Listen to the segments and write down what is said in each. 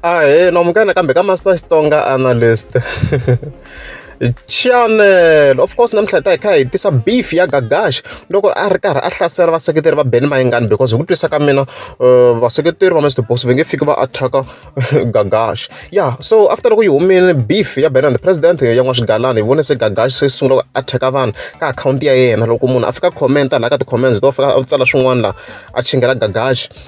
Ahee, namukela kambe ka Master Xitsonga Analyst. channel of course namuntlha hi ta hi kha hi tisa beef ya gagash loko a ri karhi a hlasela vaseketeri va beni mayingani because hi ku twisa ka mina uh, vaseketeri va mr box va nge fiki va attack gagash ya so after loko yi humile beef ya ben and the president ya n'wa swigalani hi vone se gagash se sungula ku attack vanhu ka akhawunti ya yena loko munhu a fika commenta laha ka ti-comments to fika a tsala swin'wana laha a chingela gagash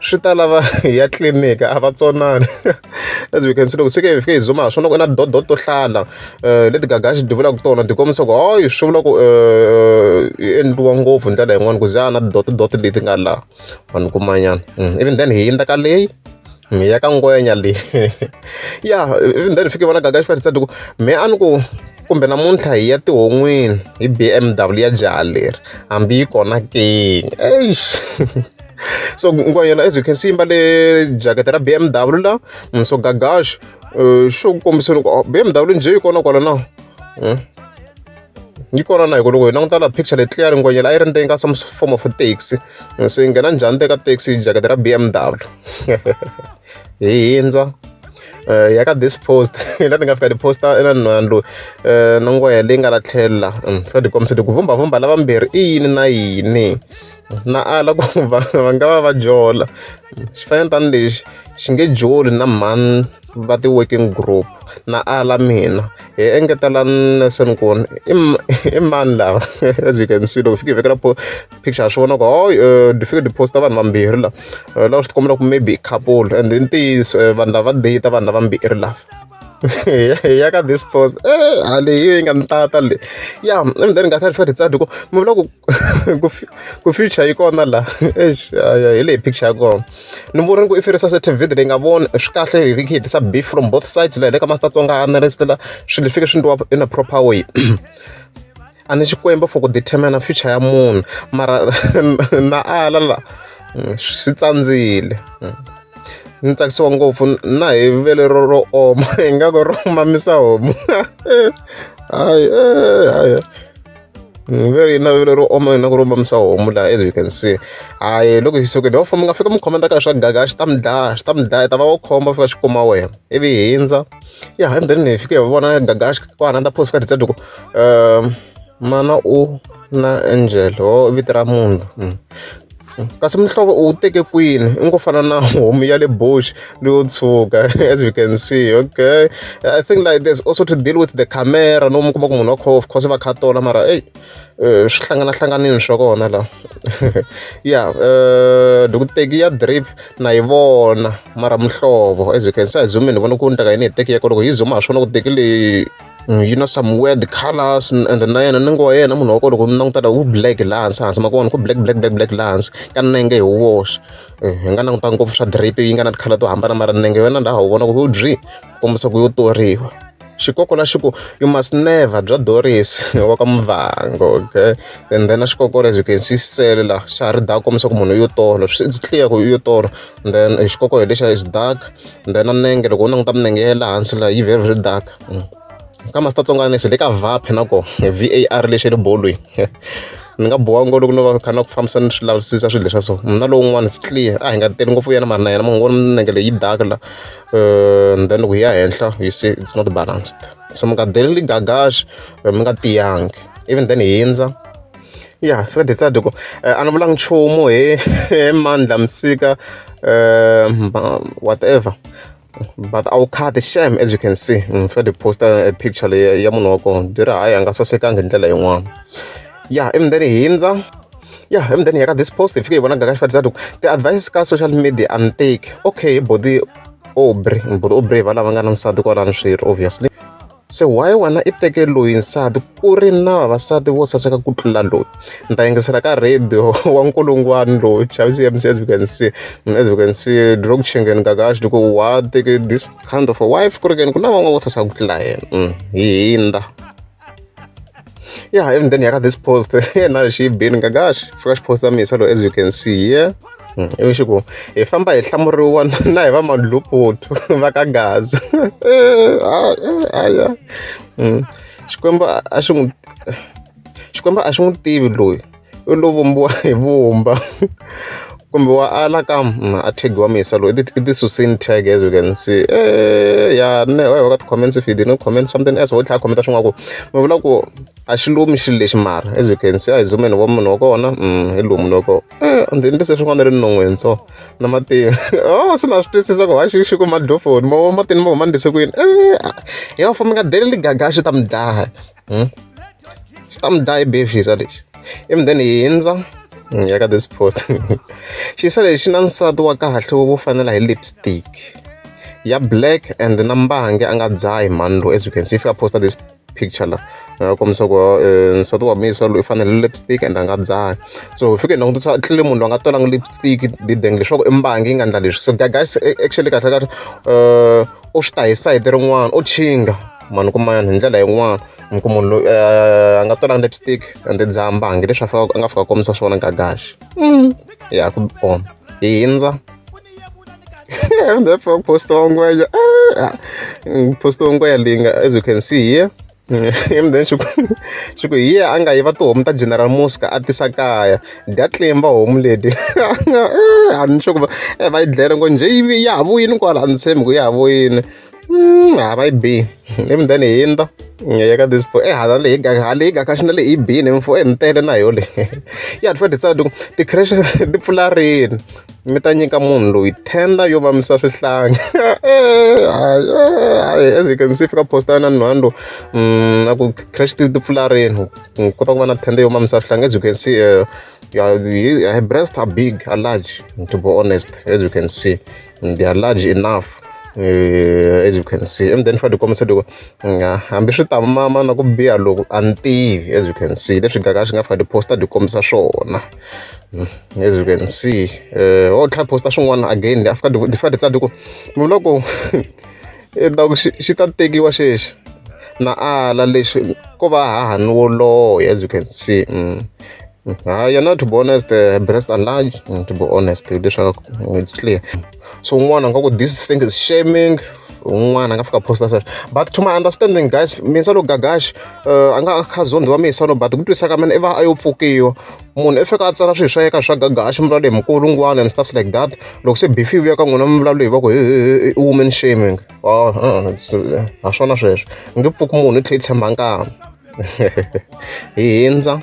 swi ta lava hi ya tliliniki a va tsonani as we can see loko se ke hi fike hi zuma ha swona ku na dodo to hlala um leti gagaxi ti vulaka tona ti kombisa ku hayi swi vula ku um yi endliwa ngopfu hi ndlela yin'wana ku za na tidotidoto leti nga laha vanhu kumanyana mm, even then hi yindza ka leyi mi ya ka ngwenya leyi ya even then hi fike vona gagaxi va titsadi ku me a ni ku kumbe namuntlha hi ya tihon'wini hi bmw ya jaha leri hambi yi kona kini eish so yena as you can see mbale jacket ra BMW la mm, so gagash eh, xo ku kombisa loko oh, BMW njhe yi kona kwala na hmm? yi kona na hikuva loko hi languta laha picture leyi clear ngwenyela a yi ri ndzeni ka some form of taxi hmm, so yi nghena njhani teka taxi jacket ra BMW hi hindza eh, ya ka this post la ni nga fika tiposta na nhwana loyi eh, na ngwehe leyi nga la tlhela hmm, fika ti kombisa ti ku vhumbhavhumbha lavambirhi i yini na yini na ala ku va va nga va va jola swi fana ni tani lexi xi nge joli na mhani va ti-working group na ala mina hi engetela Nelson ku i i mani lava as we can see loko fike hi vekela po picture ya swi vona ku ho ni fike ni posta vanhu vambirhi lava eh, lava swi ti kombela ku maybe i couple and i ntiyiso eh, vanhu lava data vanhu lava mbirhi lava ya ka this post eh hale yi nga ni tata le ya and then nga kha ri fika ri tsadi ku mi vula ku ku ku future yi kona la eish hi leyi picture ya kona ni vuri ni ku i ferisa se tv leyi nga voni swi kahle hi hi hetisa beef from both sides la hi le ka masita tsonga analyst la swilo leswi fike swi ndliwa in a proper way a ni xikwembu for ku determina future ya munhu mara na ala la swi tsandzile ni tsakisiwa ngopfu na hi vele ro ro oma ingaku ro mamisa homu hayi hayi Mm, veri yi navelo ro oma yona ku ri omamisa homu laha as you can see hayi loko hi sukile wa famba mi nga fika mi khomenta ka swa gaga swi ta mi dlaya swi ta mi dlaya ta va wa khomba fika xi kuma wena ivi hi hindza ya hi ndheni hi fike hi vona gaga xi ku ananda post ka dizadi ku um mana u na angel ho vito ra munhu mm. kasi muhlovo u wu teke kwini i ngo fana na homu ya le bush leyo tshuka as we can see okay i think like there's also to deal with the camera no mu kuma ku munhu wa khof course va kha tola mara eyi eh, swi hlanganahlanganini swa kona laha ya eh, dokuteki ya drip na yi vona mara muhlovo as we can see a hi zumi ni vona ku ni taka yini hi teki ya koloko hi zuma ha swona ku teki leyi Mm, yi na some weird colors and then na yena nango wa yena munhu wa kona loko mi languta la wu black laha hansi hansi ma ku vona ku black black black black laha hansi ka nenge hi woxe eh, hi nga languta ngopfu swa drape yi nga na tikhala to hambana mara nenge yona laha wu vona ku u byi kombisa ku yo toriwa xikoko la xi ku you must never bya doris wa ka muvango okay and then a xikokolo as you can see sele la xa ha ri da kombisa ku munhu yo tolo swi clear ku yo tolo then xikoko hi lexiya is dark then na nenge loko u languta minenge ya le hansi laha yi very very dark mm. ka masitatsongwana se le ka vaphe na ko v a r lexi le bolweni ni nga boha ngo loko no va kha na ku fambisa ni swi lavisisa swilo leswa so na lowun'wana it's clear a hi nga teli ngopfu yena mari na yena munhu vona minenge leyi dark la eh, and then loko hi ya henhla you see it's not balanced so mi nga deleli gagaxi eh, mi nga tiyangi even then hi hindza Ya Fred Tsaduko a ni vulanga nchumu hi hi Mandla Msika whatever but a wu khati shame as you can see ni fanele ni post-a e picture leyi ya munhu wa kona ni byela hayi a nga sasekanga hi ndlela yin'wana ya ivi ni te ni hundza ya ivi ni te ni ya ka this post hi fike hi vona Gagash Fred Tsaduko ti-advise ka social media a ni teki okay body Aubrey body Aubrey hi valava nga na nsati kwalano swirho obviously. Se why wena i teke loyi nsati ku ri na vavasati vo saseka ku tlula loyi ni ta yingisela ka radio wa nkulungwani loyi xavisi mc as we can see as we can see drog chingeni gagaxi loko wa teke this kind of a wife ku ri keni ku na van'wana vo saseka ku tlula yena mm, hi hindza yeah even then yaka this post yeah now she been gosh fresh post ya misa as you can see yeah mm, ivi xi ku hi famba hi hlamuriwa na hi va mandluputu va ka gaza aya xikwembu a xi n'wi xikwembu a xi n'wi tivi loyi u lo vumbiwa hi vumba kumbe wa ala ka mm, a thegiwa misa loyi i ti susini tag as you can see eh, ya ne wa ka ti-comments if you didn't comment something else wo tlhela khomenta swin'wana ku mi vula ku a xi lumi xilo lexi mara as you can see a hi zumeni wa munhu wa kona mm, hi lumi loko eh, ndzi endlise swin'wana ri non'weni so na matini o oh, se na swi twisisa ku ha xi xi ku madlofoni ma matini ma huma ndise kwini eh, ya fo mi nga deleli gaga a xi ta mi dlaya hmm? swi ta mi dlaya i beef xisa lexi ivi then hi hindza hmm, ya ka this post xisa lexi na nsati wa kahle wo fanela hi lipstick ya black and na mbange a nga dzahi mhani lowu as you can see if you posta this picture la nga kombisa ku eh, nsati wa misa loyi i fanele lipstick and a nga dzahi so hi fike hi langutisa tlele munhu loyi a nga twalangi lipstick dideng leswaku i mbange yi nga ndla leswi so guys actually kahle kahle um u swi ta hi sayiti rin'wana u chinga ma ni kuma hi ndlela yin'wana mi ku munhu loyi eh, a nga tolanga lipstick ende ndzi hambangi leswi a fika a nga fika kombisa swona gagaxi mm. ya ku bom hi hindza therefore posta wangwenya ah, posta wangwenya leyi nga as you can see here and then swi ku swi ku hi ye a nga yiva tihomu ta general muska a tisa kaya dya tlimba homu leti a ni sure ku va eh, va yi dlele ngo njhe yi ya ha vuyini kwala a ni tshembi ku ya ha vuyini Mm, ha va yi bi ivi then hi ndza hi ya ka this e hala leyi ga hala leyi ga ka xi na leyi bini mfo e ni tele na yo le ya ni fane tsadi ti-crash ti pfula rini mi ta nyika munhu loyi tender yo mamisa swihlangi hayi as you can see fika posta na nhwani lowu mm, a ku crash ti ti pfula rini u kota ku va na tender yo mamisa swihlangi as you can see uh, her breasts are big are large to be honest as you can see mm, they are large enough uh, as you can see and then fa tikomisa loko mm, hambi swi tamama na ku biha loko a ni tivi as you can see leswi gaka swi nga fika tiposta tikomisa swona mm, as you can see uh, eh, o tlha posta swin'wana again afika ti fika ti tsadi ku loko I ta ku xi xi ta tekiwa xexo. Na ala leswi ko va hahani wo loya as you can see. Hayi yena to be honest breast enlarge to be honest hileswaku it's clear. So un'wana a nga ku this thing is shaming, un'wana a nga fika a post-a a ku but to my understanding guys mina se ni lo gaga xi a nga a kha a zondhiwa mindzhwalo but hi ku twisisa ka mina i va a yo pfukiwa. munhu i fika a tsala swilo swa yeka swa gaga a xi mivulavulo hi mukulungwana and stuffs like that loko se bifi vuya ka n'wina mivulavulo hi va ku i woman shaming oh, uh, uh, ha swona sweswo nge pfuki munhu i tlhe i tshemba nkama hi hindza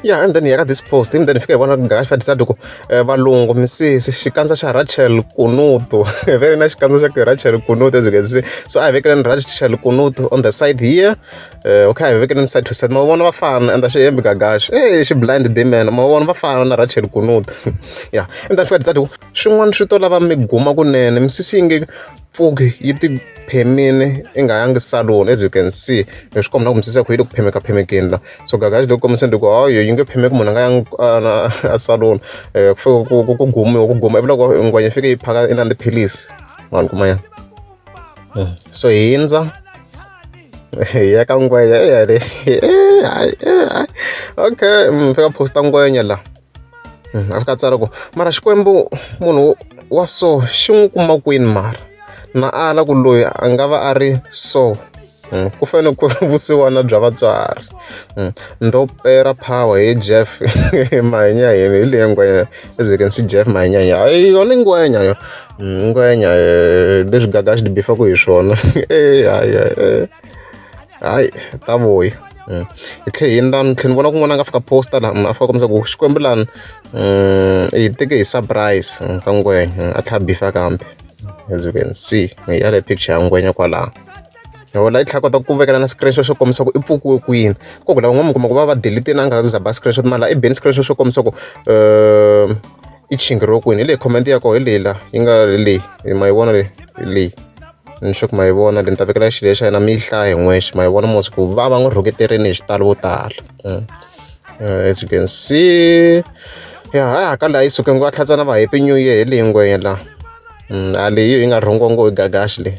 ya and then hi ya ka this post and then fika hi vona gash va decide ku eh, valungu misisi xikandza xa rachel kunutu ve ri na xikandza xa ku rachel kunutu as you can see so a hi vekeleni rachel kunutu on the side here Eh, okay hi vekele ni side to side ma vona va fana and xi hembi gagaxi e xi blind demon ma vona va fana na rachel kunut ya and then fedza tiku swin'wana swi to lava mi guma kunene misisi yi nge pfuki yi ti phemini i nga yangi salon as you can see hi swi kombela ku misisi yakho yi le ku phemeka phemekeni la so gagaxi loko kombiseni loko hayo yi nge phemeki munhu a nga yangi a salon eh, ku gumiwa ku guma ivi loko ngwenya fike yi phaka i na tiphilisi vanhu kuma ya so hindza ya ka ngwenya ya le okay mm, fika posta ngwenya la mm, a fika tsara ku mara xikwembu munhu wa so xi n'wi kuma kwini mara na ala ku loyi a nga va a ri so Mm, ku fanele ku vusiwana bya vatswari mm, ndopera power hi jeff mahenya yini hi leyi ngwenya ezekensi jeff mahenya yini hayi yona ngwenya yo mm, ngwenya eh, leswi gaga swi dibifaku hi swona eh, hayi eh, hayi ta vuya Mm. hi tlhe hi ndani tlhe ni vona kun'wana a nga fika posta laha mm, a fika kombisa ku xikwembu lani mm, hi teke hi surprise ka ngwenya a tlha bifa kambe as you can see hi yale picture ya ngwenya kwalaho hi wona i tlhela kota ku vekela na screenshot swo kombisa ku i pfukiwe kwini ko ku lava n'wana mi kuma ku va va delete na nga zaba screenshot mara i beni screenshot swo kombisa ku um i chingiriwe kwini hi leyi comment ya koho hi leyi la yi nga leyi ma yi vona leyi hi leyi ni sure ku ma yi vona leyi ni ta vekela xilo xa yena mi yi hlaya hi n'wexe ma yi vona mos ku va va n'wi rhuketerini hi xitalo vo tala mm. eh, as you can see ya ha haka laha yi suke ngo a tlhatsana va happy new year hi leyi ngwenya la mm, a leyi yi nga rhongongo hi gagaxi leyi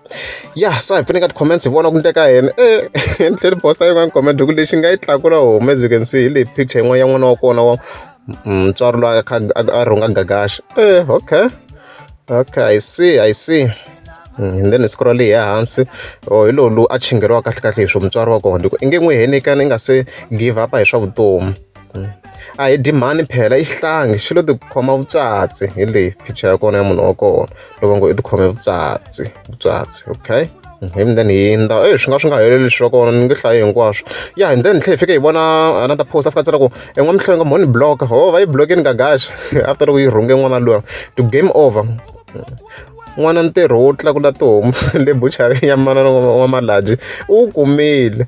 ya so hi pfuneka ti-comments hi vona ku ndleka yena e eh, ni tlheli posta yin'wana comment hi ku lexi nga yi tlakula home as you can see hi leyi picture yin'wana ya n'wana wa kona wa mm, mutswari loyi a kha a rhunga gagaxa e eh, okay okay i see i see mm, and then siku ra leyi ehansi o oh, hi lowu lowu a chingeriwa kahle kahle hi swo mutswari wa kona i ku i nge n'wi henikani i nga se give up hi swa vutomi a hi dyi mhani phela i xihlangi xi lo tikhoma vutswatsi hi leyi picture ya kona ya munhu wa kona loko ngo i tikhome vutswatsi vutswatsi okay hi then hi ndza e swi nga swi nga heleli swa kona ni nge hlayi hinkwaswo ya hi then tlhe hi fike hi vona another post a fika tsela ku en'wamihlovo nga mhoni block ho va yi blokini gagaxa after loko yi rhunge n'wana luya to game over n'wana ntirho wo tlakula tihomu le buchari ya manana wa malaji u wu kumile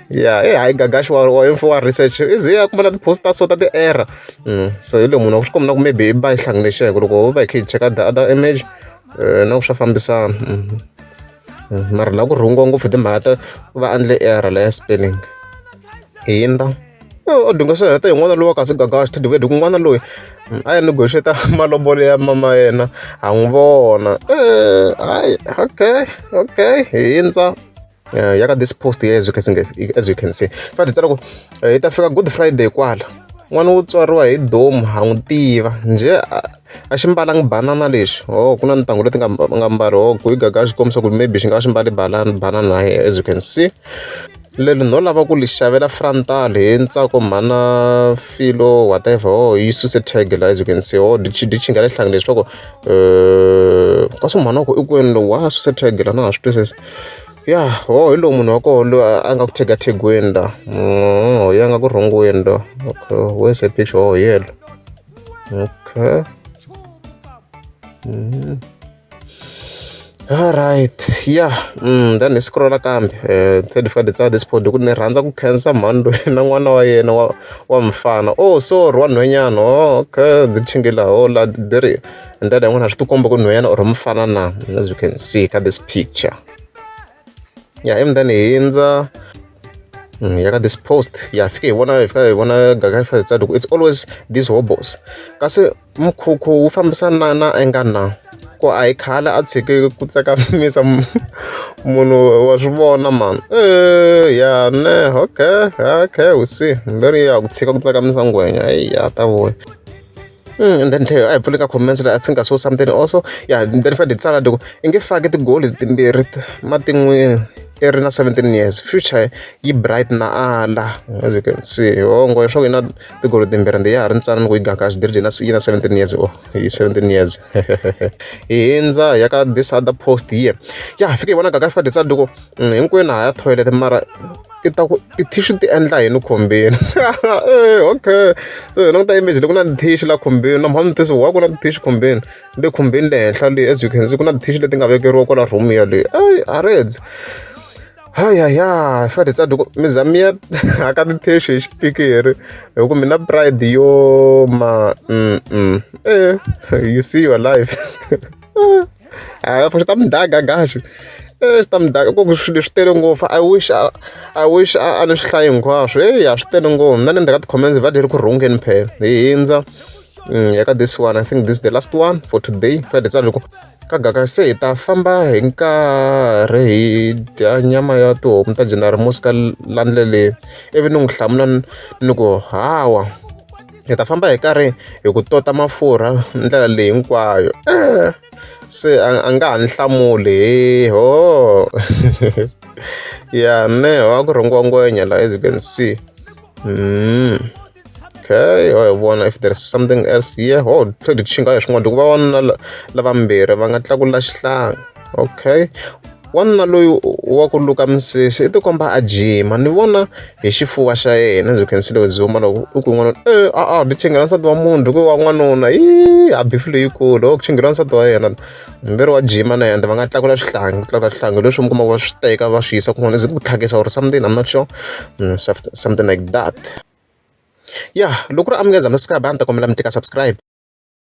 ya i hayi gagax wa wa info wa research i ze a kuma na ti-post ta so ta ti-error so hi loyi munhu wa swi kombina ku maybe i ba yi hlanganixeke loko ho va hi kha hi cheka the other image na ku swa fambisana mara laha ku rhungiwa ngopfu hi timhaka ta va endle error laya spelling hi yinda o dinga swi heta hi n'wana lowa kasi gagax tidivedi ku n'wana loyi a ya negotiate malobolo ya mama yena ha n'wi vona hayi okay okay hi yindza uh, ya ka this post here as you can see, as you can see. fathi tsala ku eh, yi ta fika good friday kwala n'wana wo tswariwa hi domu ha n'wi tiva njhe a xi mbalanga banana lexi o oh, ku na ntangu leti nga nga mbali o oh, ku yi gaga xi kombisa ku maybe xi nga xi mbali banana banana na as you can see leli no lava ku li xavela frontal hi ntsako mhana filo whatever o oh, yi suse tag la as you can see o di chinga le hlangi leswaku um eh, kasi mhana ku i kwini lowu wa suse tag la na ha swi twisisi Ya hooho hi lowu munhu wa kona loyi a nga ku thekathengiwani laha hooho hi yena a nga ku rhongweni laha okay where is the picture hooho hi yena la okay alright ya then hi scroll-a kambe se ni fanele ni tsala this photo hi ku ni rhandza ku khensa mhani loyi na n'wana wa yena wa wa mufana oh sorry wa nhwenyana hooho okay ni laha hooho laha ni ri. ndlela yin'wana swi tikomba ku nhwanyana or mufana na as you can see ka this picture ya ivi then hi hindza mm, ya ka this post ya fike hi vona hi fika hi vona gaga hi fika hi tsadi ku it's always these hobos kasi mukhukhu wu fambisana na na enga na ku a hi khale a tshike ku tsakamisa munhu wa swi vona mani eh, ya ne okay okay u see mberi ya ku tshika ku tsakamisa ngwenya eyi ya ta vuya Mm, and then leyo a hi pfuli ka comments leyi i think i saw something also ya yeah, then fade tsala loko i nge faki tigoli timbirhi matin'wini i ri na 17 years future yi bright na ala as you can see hongo leswaku yi na tigolo timbirhi ndi ya ha ri ntsana ni ku yi gaka a swi diri na yi na 17 years o oh, yi 17 years hi hindza ya ka this other post here ya fike yi vona gaka fika ditsala loko Hinkwenu ha ya thoyilete mara i ta ku ti-tissue ti endla yini khumbini e okay so hi languta image leyi ku na ti-tissue laha khumbini na mhani ti wa ku na ti-tissue khumbini le khumbini le henhla le as you can see ku na ti-tissue leti nga vekeriwa kwala room yaleyo eyi a ri endzi hayaya hi fanele hi tsaka loko mi za mi ya haka ti-tissue hi xipikiri hi ku mi na pride yo ma e you see your life. a ah, swi ta mi daga gaxi eh, swi ta mi daga ku swi leswi tele ngopfu i wish i wish a ni swi hlayi hinkwaswo eyi a swi tele ngopfu na le ndzhaku ka ti-comments va leri ku rhungeni phela hi hindza mm, ya ka this one i think this the last one for today fa hi tsala loko ka gaka se hi ta famba hi nkarhi hi dya nyama ya tihomu ta general mosika landleleni ivi ni n'wi hlamula ni ku hawa hi ta famba hi karhi hi ku tota mafurha ndlela leyi hinkwayo eh, se a nga ha ni hlamuli hi ho ya ne ho a ku rhungiwa ngwenya la as you can see mm. okay ho hi vona if there's something else here ho tlhe hi xinga hi swin'wana hikuva vanuna lavambirhi va nga tlakula xihlanga okay wanuna loyi wa ku luka misisi i tikomba a jima ni vona hi xifuva xa yena byi khensile byi huma loko i ku n'wanuna e a a byi chingela nsati wa munhu ku wa n'wanuna yi a bifi leyikulu o ku chingela nsati wa yena mberi wa jima na yena va nga tlakula swihlangi ku tlakula swihlangi leswi mi kumaka va swi teka va swi yisa kun'wana zi ku tlhakisa or something i'm not sure mm, something like that ya loko ri amukeza mi swi kha ba ni ta kombela mi teka subscribe